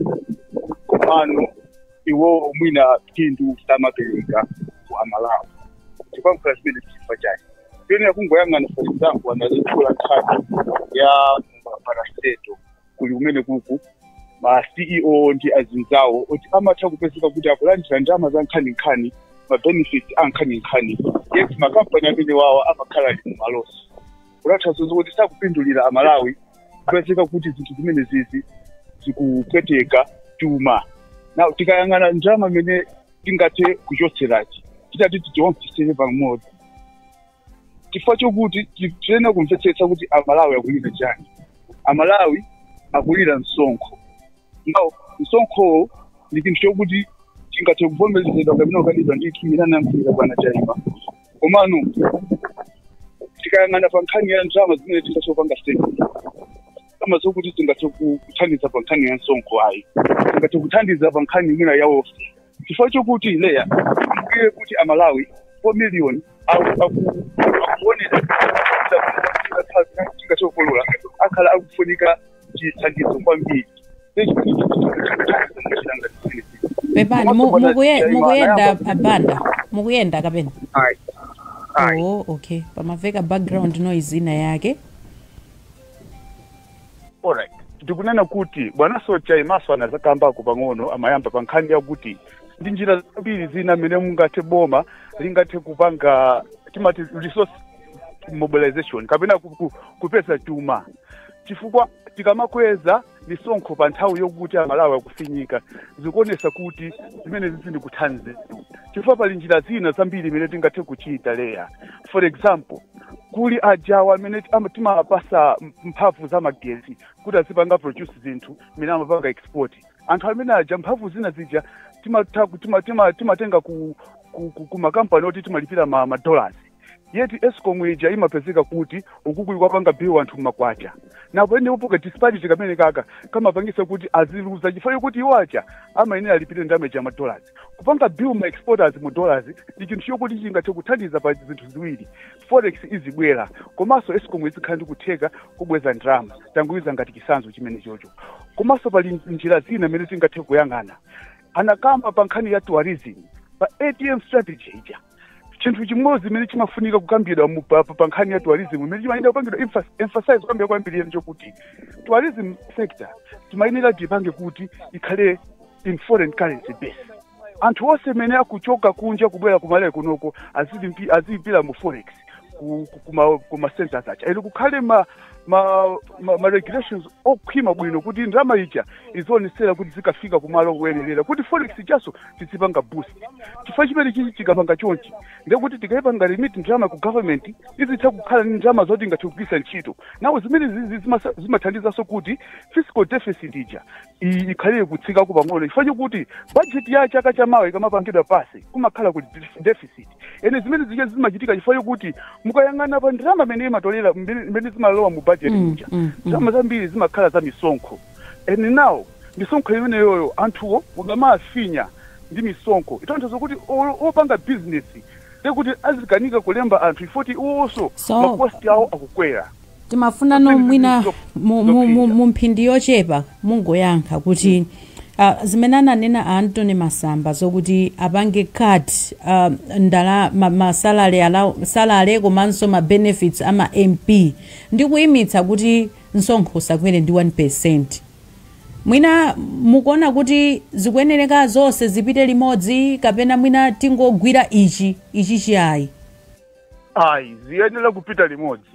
komano iwowo mwina phindu samapereka kwa amalawi chifukwa mkhala zimene chifukwa chake tiyenera kungoyang'ana for example analankhula nkhani ya ma parastatal kuli kumene kuko ma ceo ndi azinzawo oti amatha kupezeka kuti akulandira ndalama za nkhaninkhani ma benefits a nkhaninkhani yet makampani amene wawo amakhala ali mumalosi kutanthauza kuti sakupindulira amalawi kupezeka kuti zinthu zimene zizi zikupweteka chuma now tikayang'ana ndalama imene tingathe kuchotserayi titati tiyionkhetsere pamodzi chifukwa chokuti tiyenera kumvetsetsa kuti amalawi akulira chani amalawi akulira msonkho now msonkho ndi chinthu chokuti chingathe kuvomerezedwa kapena kukanidwa ngati mmene anankhulira bwana chaima komano tikayang'ana pa nkhani ya ndalama zimene tingathe kupanga save ndalama zokuti tingathe ku- kuthandiza pa nkhani ya msonkho ayi tingathe kuthandiza pa nkhani mwina ya ofi chifukwa chokuti leya iye kuti amalawi 4 million akuonera tingathe kukolola akhala akufunika chithandizo kwambiri pepani mu- mukuye- mukuyenda abanda mukuyenda kapena Ayi. Ayi. oh okay pamaveka background noise ina yake Alright. ndikunena kuti bwana chaimanso anazakambako pang'ono amayamba pa nkhani yakuti ndi njira zambiri zina mmene mungathe boma lingathe kupanga timati resource mobilization kapena ku- ku- kupeza chuma chifukwa tikamakweza misonkho pa nthawi yokuti amalawi akufinyika zikuonesa kuti zimene sizikuthandiza chifukwa pali njira zina zambiri imene tingathe kuchita leya for example kuli awa amene ama- timawapasa m- mphamvu za magesi kuti azipanga produce zinthu imene amapanga export anthu amene aja mphamvu zina zija timatha ku- tima- tima- timatenga ku ku- ku- ku makampani oti timalipira ma- madollars yeti escom ija imapezeka kuti ikukuli kuwapanga bill anthu mmakwacha nawo ene ipoka disparity kamene kaja kamapangisa kuti aziluza chifukwa chokuti iwo aja amayenera alipire ndalama ya ma dollars kupanga bill ma exporters mu dollars ndi chinthu chokuti chingathe kuthandiza pa zinthu ziwiri forex izibwera komanso escom izikhala ndi kutheka kubweza ndalama tangoyika ngati chisanzo chimene chocho komanso pali njira zina imene tingathe kuyang'ana anakamba pa nkhani ya tourism pa atm strategy ija chinthu chimodzi chimene chimafunika kukambidwa mu- pa pa- pa nkhani ya tourism imene chimayenera kupangidwa emphas- emphasize kukambidwa kwambiri ndi chokuti tourism sector timayenera tipange kuti ikhale in foreign currency based anthu onse amene akuchoka kunja kubwera kumalawi kunoko azilipira mu forex ku- ku- kuma- kuma centers aja ene kukhale ma ma, ma, ma regulations okhwima bwino kuti ndalama ija izionesera kuti zikafika kumalo koyenerera kuti forex ijaso tizipanga boost chifukwa chimene chichi chikapanga chonchi ndekuti tikayipanga remit ndalama ku government izitha kukhala ndi ndalama zoti ingathe kugwiritsa ntchito nawo zimene zi- zi- zimasa- zimathandizanso kuti fiscal deficit ija i- ikhalire kutsikako pang'ono chifukwa chokuti budget ya chaka chamawa ikamapangidwa pass kumakhala kuti deficit ene zimene zija zimachitika chifukwa chokuti mukayang'ana pa ndalama imene amatolera imene imene zimalowa mu budget Mm, muja mm, mm. ndalama zambiri zimakhala za misonkho ene nawo misonkho imeneyoyo anthuwo ukamawafinya ndi misonkho itanthauza kuti o- opanga bizinesi ndekuti azikanika kulemba anthu komanso iwonso So- makosti awo akukwera timafuna mwina mu- mu- mu- mu mphindi yochepa mungoyankha kuti ah, zimene ananena a antony masamba zokuti apange cut ah, ndala ma- ma salary allow- salary komanso ma benefits ama mp ndi kuyimitsa kuti msonkho usakwere ndi 1 percent mwina mukuona kuti zikuyenereka zonse zipite limodzi kapena mwina tingogwira ichi ichi ayi ayi ziyenera kupita limodzi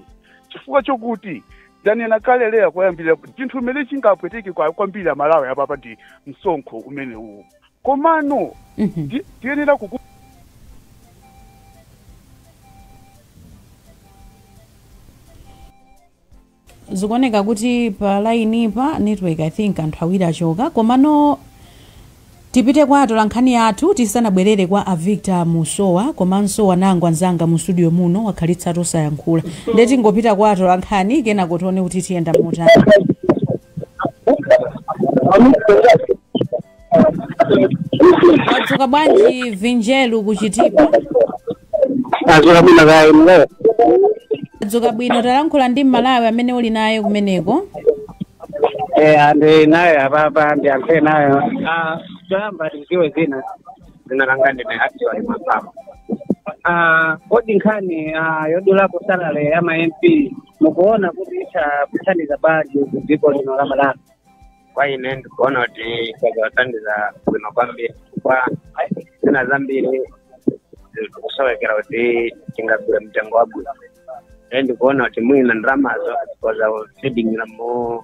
chifukwa chokuti ndanena kale leya koyambirira kuti chinthu chimene chingapweteke kwa- kwambiri amalawi apapa ndi msonkho umene uwu komano Mhm. ti- tiyenera kuku zikuoneka kuti pa line pa network i think anthu awiri achoka komano tipite kwa atolankhani athu tisanabwerere kwa avictor musowa komanso wanangwa nzanga mu studio muno wakhalitsatu osayankhula nde tingopita kwa atolankhani kenako tione kuti tiyenda motani wadzuka bwanji vinjelu ku chitipa tadzuka bwino kaya inuyo wadzuka bwino talankhula ndi mmalawi amene uli naye kumeneko eh ndi nawo apapa ndiyankhule nawo ah choyamba tiziwe zina zina langa ndine actually mapapa ah kodi nkhani ah yodulapo salary ya ma MP mukuona kuti itha kuthandiza bwanji ku dziko lino la Malawi kwa ine ndikuona kuti kuzathandiza bwino kwambiri chifukwa zina zambiri zikusowekera kuti tingagule mtengo wabwino e ndikuona kuti mwina ndalamazo koza feedingira mu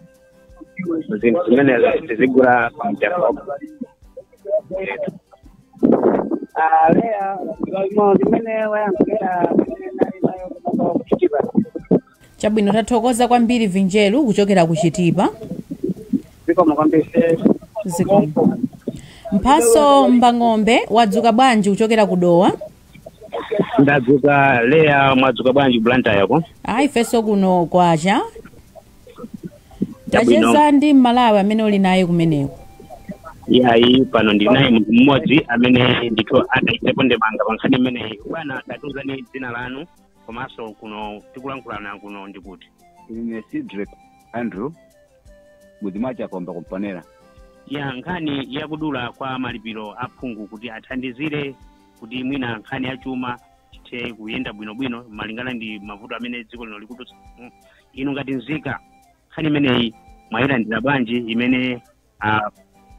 zinthu zimenezo tizigula pa mtengo wabwino Ah, lea, ndi zimene wayankhula amene nali naye kuchoka ku chitipa. chabwino tathokoza kwambiri vinjeru kuchokera ku chitipa zikomo kwambiri zikomo mphatso mbang'ombe wadzuka bwanji kuchokera ku dowa ndadzuka leya mwadzuka bwanji blantyre yako ayi ifenso kuno kwacha Chabwino. tacheza ndi mmalawi amene uli naye kumeneko yayi pano ndili naye munthu mmodzi amene ndithu atayikepo ndemanga pa nkhani imeneyi bwana tatiuzani dzina lanu komanso kuno tikulankhulana kuno ndi kuti ine cedric andrew mudzi mwa chakomba ku mponela ya nkhani yakudula kwa malipiro a phungu kuti athandizire kuti mwina nkhani ya chuma chithe kuyenda bwinobwino malingana ndi mavuto amene dziko lino likudutsamo. inu ngati nzika nkhani imeneyi mwayilandira bwanji imene ah,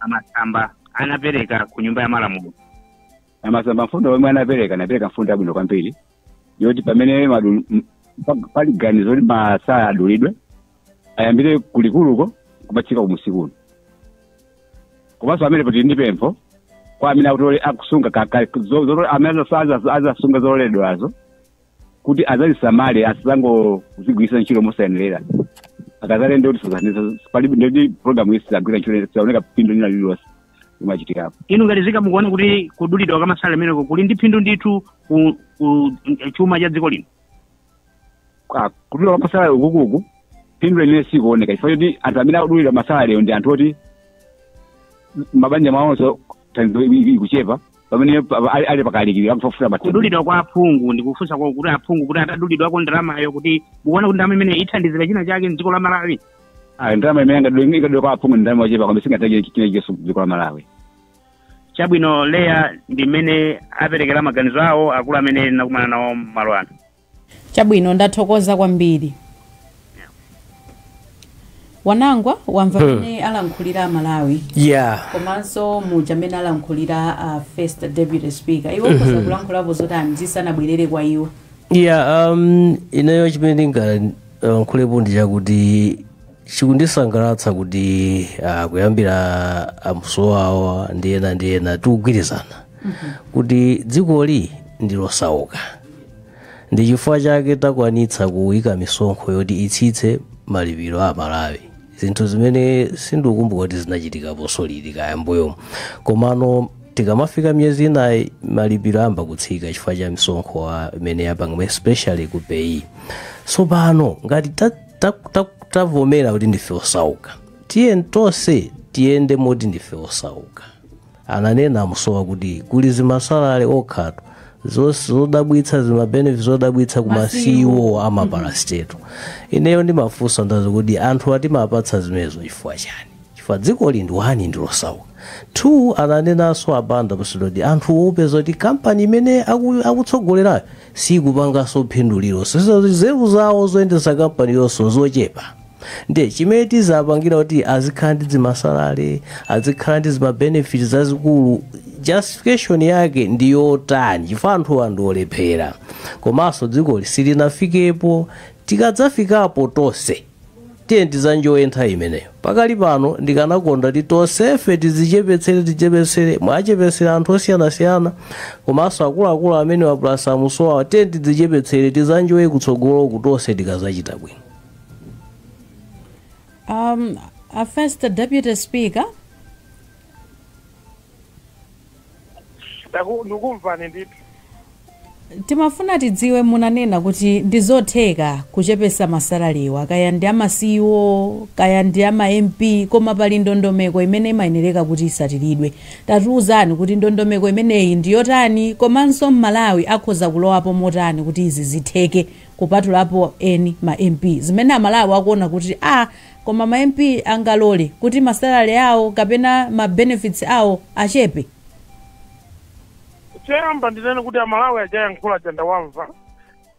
amasamba anapereka ku nyumba ya malamulo amasamba mfundo yomwe anapereka anapereka mfundo yabwino kwambiri yoti pamene madu- m- pa- pali ganizo kuti masalary adulidwe ayambire ku likuluko kumatsika kumusi kuno komanso amene poti ndi pempho kwa amene akutole akusunga kaka- zo- zo- amene azasunga- azasunga zotoleredwazo kuti azazisamale asazangozigwirisa ntchito mosayenerera akazatere nde kuti suzaniza palibe ndoti programu iyi sizagwira ntchito sizaoneka phindu lina lililonse imachitikapo inu ngati nzika mukuona kuti kudulidwa kwa masalale ameneko kuli ndi phindu ndithu ku, ku chuma cha dziko lino Ah, kudulidwa kwa masalale ukukuku phindu lenileni sikuoneka chifukwa choti anthu amene akudulidwa masalalewo ndi anthu oti mabanja mwawonso thandizo i- i- ikuchepa pamene pa- pa- ali- ali pakalikiliki akufufuza mathandizo kudulidwa kwa aphungu ndikufunsa kwa kuti aphungu kuti atadulidwako ndalamayo kuti mukuona kuti ndalama imene ithandizira china chake mdziko la malawi ayi ndalama imene ingadwe- ingadulidwe kwa aphungu ndi ndalama yochepa kwambiri singathandize china chilichonse mdziko la malawi chabwino leya ndi mmene aperekera maganizo awo akulu amene ndinakumana nawo malo ano chabwino ndathokoza kwambiri wanangwa wamva Hmm. mmene alankhulira amalawi yeah komanso muja amene alankhulira a first deputy speaker iwo Mhm. mukhoza kulankhulapo zotani zisanabwerere kwa iwo yeah um, ineyo chimene ndinga lankhulepo ndi chakuti chikundisangalatsa kuti ah, kuyambira amsowawa ndi ena ndi ena tikugwirizana kuti dzikoli ndi losauka ndi chifukwa chake takwanitsa kuyika misonkho yoti itsitse malipiro a malawi zinthu zimene sindikukumbuka kuti zinachitikaponso liti kaya mbuyomu komano tikamafika miyezi inayi malipiro ayamba kutsika chifukwa cha msonkho wa imene yapanga especially ku PAYE tsopano ngati ta- ta- ta- tavomera kuti ndife osauka tiyeni tonse tiyende moti ndife osauka ananena amusowa kuti kuli zimasalale zokhatu zodabwitsa zimabenefit zodabwitsa ku ma CEO a ma parastatal ineyo ndimafunsa nazo kuti anthuwa timawapatsa zimenezo chifukwa chani chifukwa dzikoli ndi one ndilosauka two ananenanso abanda pasidodi anthu opeza kuti kampani imene aku- akutsogolerayo sikupanganso phindu lilonse so nzeru zawo zoyendesa kampaniyonso nzochepa Ndiye chimene tizapangira kuti azikhala ndi dzimasalale, azikhala ndi zima benefit zazikulu, justification yake ndi yotani? Chifukwa anthuwa ndi olephera. Komanso dzikoli silinafikepo. Tikadzafikapo tonse tiye tizanjoye nthawi imeneyo. Pakali pano ndikanakonda kuti tonsefe tizichepetsere tichepetsere, mwachepetsera anthu osiyanasiyana komanso akuluakulu amenewa plus amusowawa tiye tidzichepetsere tizanjoye kutsogoloku tonse tikazachita bwino. Um, a first Deputy Speaker. Ndaku- ndikumvani ndithu timafuna tidziwe munanena kuti ndi zotheka kuchepesa masalalewa kaya ndi ama CEO kaya ndi ama MP koma pali ndondomeko imene imayenereka kuti isatiridwe tatiuzani kuti ndondomeko imeneyi ndi yotani komanso mmalawi akhoza kulowapo motani kuti izi zitheke kupatulapo eni ma mp zimene amalawi akunena kuti a koma ma mp angalole kuti ma salary awo kapena ma benefits awo achepe choyamba ndinene kuti amalawi ajayankhula aja ndawamva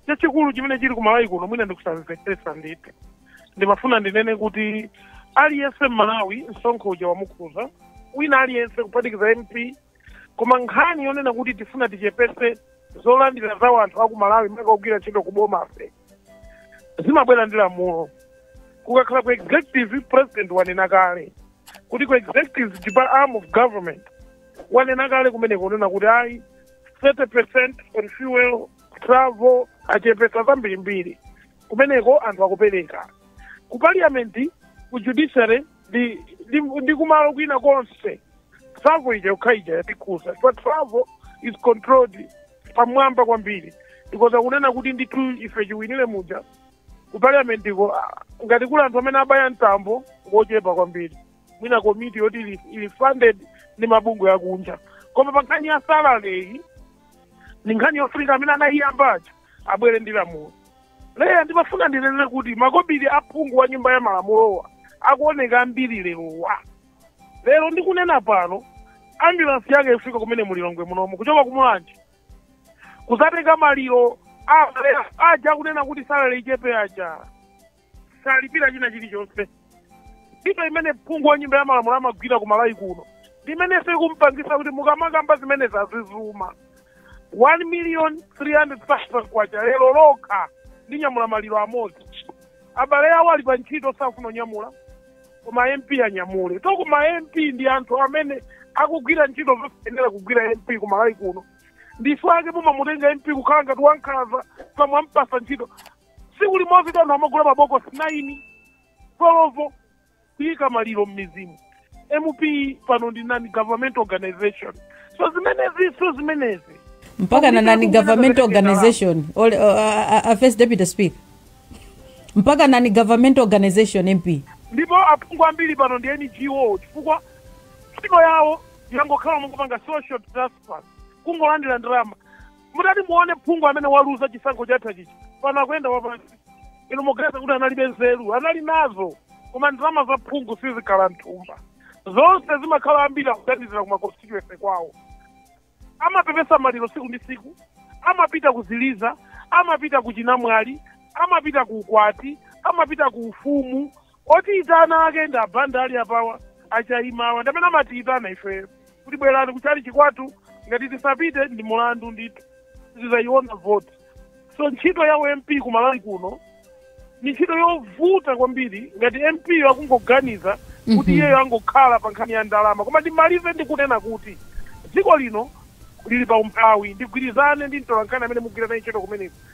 chachikulu chimene chili kumalawi kuno mwina ndikusamvetsetsa ndithu ndimafuna ndinene kuti aliyense mmalawi msonkho uja wamukhuza wina aliyense kuphatikiza mp koma nkhani yonena kuti tifuna tichepese zolandira za wanthu aku malawi maka ogwira ntchito ku bomafe zimabwera ndi lamulo kukakhala ku executive president wanena kale kuti ku executive depa- arm of government wanena kale kumeneko kunena kuti ayi 30 percent on fuel travel achepesa zambirimbiri kumeneko anthu akupereka ku parliament ku judiciary ndi ndi ndi kumalo kwina konse travel ija yokha ija yatikhuza but travel is controlled pamwamba kwambiri because akunena kuti ndithu ife chiwinire muja ku parliamentiko ah, ngati kuli anthu amene abaya mtambo ngochepa kwambiri mwina komiti yoti ili- ili funded ndi mabungwe akunja koma pa nkhani ya salary iyi ndi nkhani yofunika amene anayiyambacho abwere ndi lamulo leya ndimafuna ndinene kuti makobiri a phungu wa nyumba ya malamulowa akuoneka ambiri lerowa lero ndikunena pano ambulansi yanga ikufika kumene mulilongwe munomu kuchoka kumulanje kuzatenga maliro a- aja akunena kuti salale ichepe aja salipira china chilichonse ntchito imene phungu wa nyumba ya malamulo amagwira ku malawi kuno ndimenenso ikumpangisa kuti mukamakamba zimene zazizuma 1 million 300,000 kwacha lero lokha ndi nyamula maliro amodzi abale awo ali pa ntchito safuna kunyamula koma mp anyamule to koma mp ndi anthu amene akugwira ntchito zosayenera kugwira mp ku malawi kuno ndi chifukwa chake mumamutenga mp kukhala ngati wankhaza simwampasa ntchito tsiku limodzi anthu amagula mabokosi 9 12 kuyika maliro m'mizimu mp pano ndi non government organization so zimenezi so zimenezi mpaka na non government organization all, uh, uh, uh, first deputy speaker mpaka non government organization mp ndipo aphungu ambiri pano ndi ngo chifukwa ntchito yawo yangokhala mungopanga social transfer kungolandira ndalama mutati muone phungu amene waluza chisankho chathachi pano akuyenda wapansi inu muganiza kuti analibe nzeru anali nazo koma ndalama za phungu sizikhala mthumba zonse zimakhala ambiri akuthandizira ku makonstituency kwawo amapepesa maliro siku ndi siku amapita kuziliza amapita ku chinamwali amapita ku ukwati amapita ku ufumu Otiyitana ake ndi a Banda ali apawa, a Chaima awa ndi amene amatiyitana ifeyo kuti bwerani ku chalichi kwathu, ngati tisapite ndi mulandu ndithu, sitidzayiona voti. So ntchito ya u MP ku Malawi kuno ni ntchito yovuta kwambiri ngati MP yo akungoganiza kuti Mhm. iyeyo angokhala pa nkhani ya ndalama, koma ndimalize ndi kunena kuti dziko lino lili pa umphawi, ndigwirizane ndi mtolankhani amene mugwira naye ntchito kumeneko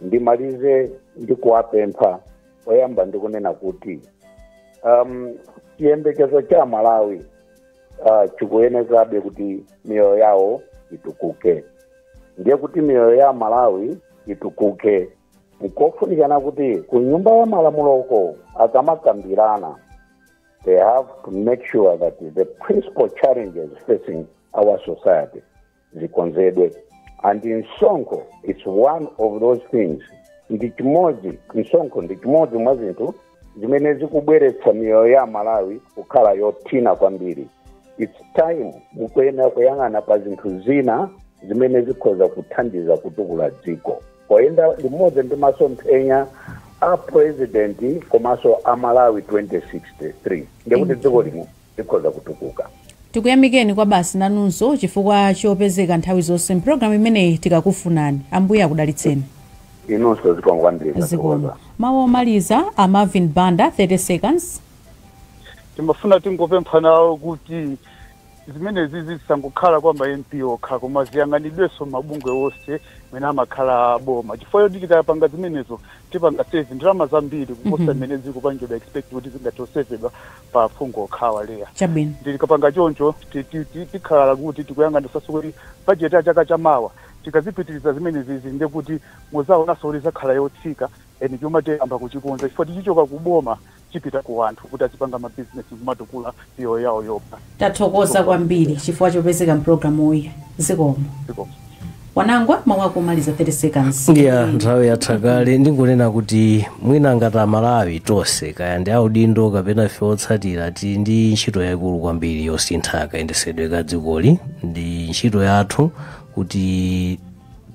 ndimalize ndi kuwapempha oyamba ndi kunena kuti um, chiyembekezo cha amalawi uh, chikuyenezabe kuti miyoyo yawo itukuke ndiye kuti miyoyo ya amalawi itukuke nkofunikana kuti ku nyumba ya malamuloko akamakambirana they have to make sure that the principal challenges facing our society zikonzedwe and msonkho is one of those things ndi chimodzi msonkho ndi chimodzi mwa zinthu zimene zikubweretsa miyoyo ya amalawi kukhala yothina kwambiri its time mukuyenera kuyang'ana pa zinthu zina zimene zikhoza kuthandiza kutukula dziko poyenda limodzi ndi masomphenya a president komanso a malawi 2063 ndikuti dziko lino likhoza kutukuka. Tikuyamikeni Kwabasi nanunso chifukwa chopezeka nthawi zonse m'programu imeneyi tikakufunani. Ambuye akudalitseni. Inunso zikomo kwambiri Zikomo. tathokoza. Mawu omaliza a Marvin Banda, 30 seconds. Timafuna tingopempha nawo kuti zimenezizi zisangokhala kwa ma MP okha koma ziyang'anidwenso m'mabungwe onse amene amakhala a boma chifukwa choti tikapanga zimenezo tipanga save ndalama zambiri kuposa mmene zikupangidwa expect kuti zingathe kusevedwa pa aphungu okhawa Leah Chabwino. ndi tikapanga choncho ti- ti- ti- tikhala kuti tikuyang'anisanso kuti budget ya chaka cha mawa tikazipitiliza zimenezizi ndiye kuti muzaonanso kuti izakhala yotsika and chuma tiyamba kuchikonza chifukwa tichichoka ku boma chipita ku anthu kuti azipanga ma business kumatukula miyoyo yawo yokha Tathokoza kwambiri chifukwa chopezeka mpulogalamuyi. Zikomo. Zikomo. Wanangwa mawu ako omaliza 30 seconds ya nthawi yatha kale ndingonena kuti mwina ngati amalawi tonse kaya ndi audindo kapena ife otsatira tili ndi ntchito yayikulu kwambiri yosintha kayendesedwe ka dzikoli ndi ntchito yathu kuti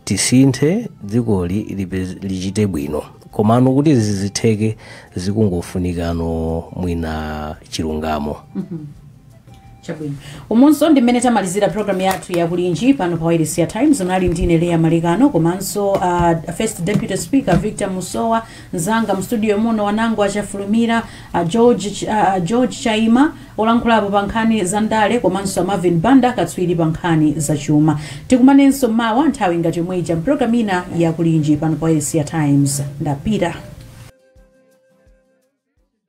tisinthe dzikoli lipe- lichite bwino komano kuti zizitheke zikungofunikano mwina chilungamo chabwino umunso ndi mmene tamalizira programu yathu ya Kulinji pano pa wailesi ya times unali ndine Leah Malekano komanso uh, first deputy speaker victor musowa mzanga mstudio muno Wanangwa Chafulumira uh, george, Ch- uh, george chaima olankhulapo pa nkhani za ndale komanso marvin banda katswiri pa nkhani za chuma tikumanenso mawa nthawi ngati yomwe ija mpulogalamu ina ya Kulinji pano pa wailesi ya times ndapita